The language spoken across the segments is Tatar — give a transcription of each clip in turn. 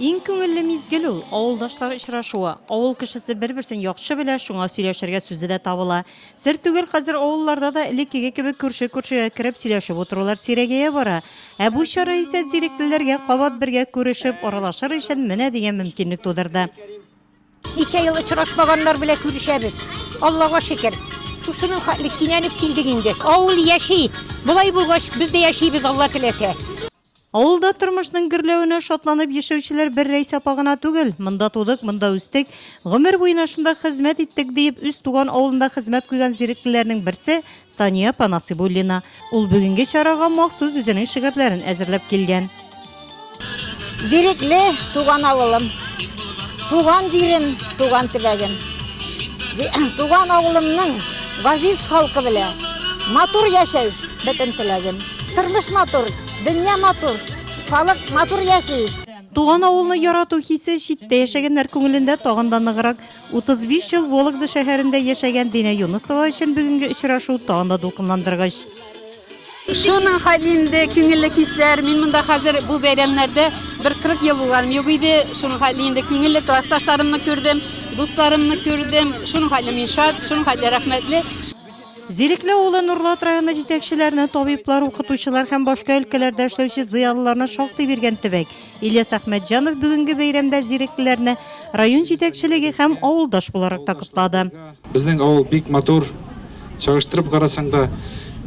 Иң күңелле мизгел ул, авылдашлар очрашуы. Авыл кешесе бер-берсен яхшы белә, шуңа сөйләшергә сүзе дә табыла. Сер түгел, хәзер авылларда да элеккеге кебек күрше-күршегә кереп сөйләшеп утырулар сирәгәя бара. Ә бу чара исә зиреклеләргә кабат бергә күрешеп, аралашыр өчен менә дигән мөмкинлек тудырды. Ничә ел очрашмаганнар белән күрешәбез. Аллага шөкер. Шушының хәтле кинәнеп килдек инде. Авыл яши. Болай булгач, без дә яшибез, Алла теләсә. Авылда тормышның гөрләвенә шатланып яшәүчеләр бер Рәйсә апа гына түгел. Монда тудык, монда үстек, гомер буена шунда хезмәт иттек, диеп, үз туган авылында хезмәт куйган зиреклеләрнең берсе, Сания апа Насыйбуллина. Ул бүгенге чарага махсус үзенең шигырьләрен әзерләп килгән. Бирекле туган авылым, туган җирем, туган төбәгем. Туган авылымның газиз халкы белән матур яшәү бөтен теләгем. Тормыш матур, дөнья матур, халык матур яши. Туган авылны ярату хисе читтә яшәгәннәр күңелендә тагын да ныграк. 35 ел Вологда шәһәрендә яшәгән Динә Юнысова өчен бүгенге очрашу тагын да дулкынландыргыч. Шуның хәле инде, күңелле хисләр. Мин монда хәзер бу бәйрәмнәрдә бер 40 ел булганым юк иде. Шуның хәле инде, күңелле классташларымны күрдем, дусларымны күрдем. Шуның хәле мин шат, шуның хәле рәхмәтле. Зирекле авылы Нурлат районы җитәкчеләренә табиблар, укытучылар һәм башка өлкәләрдә эшләүче зыялыларны шактый биргән төбәк Ильяс Әхмәтҗанов бүгенге бәйрәмдә зиреклеләрне район җитәкчелеге һәм авылдаш буларак та котлады. Безнең авыл бик матур, чагыштырып карасаң да,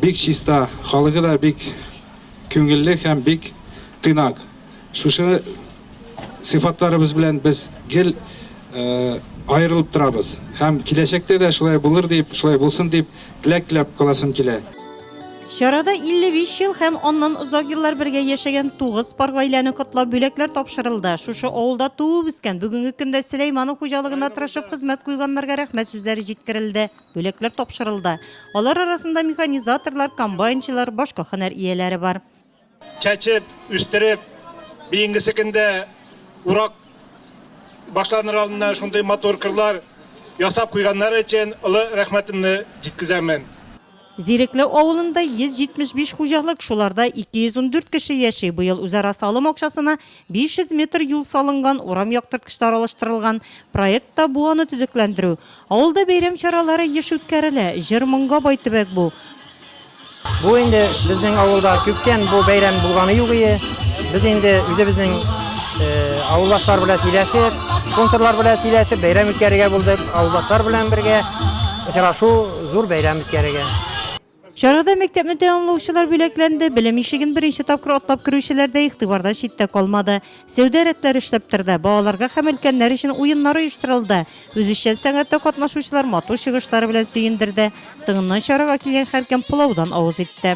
бик чиста, халыгы да бик күңелле һәм бик тыйнак. Шушы сыйфатларыбыз белән без гел аерылып торабыз. Һәм киләчәктә дә шулай булыр дип, шулай булсын дип теләк теләп каласым килә. Чарада 55 ел һәм аннан озак еллар бергә яшәгән тугыз пар гаиләне котлап бүләкләр тапшырылды. Шушы авылда туып-үскән, бүгенге көндә Сөләйманов хуҗалыгында тырышып хезмәт куйганнарга рәхмәт сүзләре җиткерелде, бүләкләр тапшырылды. Алар арасында механизаторлар, комбайнчылар, башка һөнәр ияләре бар. Чәчеп, үстереп, бейенгесе көндә урак башланыр алдында шундый матур кырлар ясап куйганнар өчен олы рәхмәтемне җиткезәмен. Зирекле авылында 175 хуҗалык, шуларда 214 кеше яши. Быел үзара салым акчасына 500 метр юл салынган, урам яктырткычлары алыштырылган. Проектта бу аны төзекләндерү. Авылда бәйрәм чаралары еш үткәрелә. Җыр-моңга бай төбәк бу. Бу инде безнең авылда күптән бу бәйрәм булганы юк ие. Без инде үзебезнең авылдашлар белән сөйләшеп, спонсорлар белән сөйләшеп, бәйрәм үткәрергә булдык. Авылдашлар белән бергә очрашу, зур бәйрәм үткәрергә. Чарада мәктәпне тәмамлаучылар бүләкләнде, белем ишеген беренче тапкыр атлап керүчеләр дә игътибардан читтә калмады. Сәүдә рәтләре эшләп торды, балаларга һәм өлкәннәр өчен уеннар оештырылды. Үзешчән сәнгатьтә катнашучылар матур чыгышлары белән сөендерде. Соңыннан чарага килгән һәркем пылаудан авыз итте.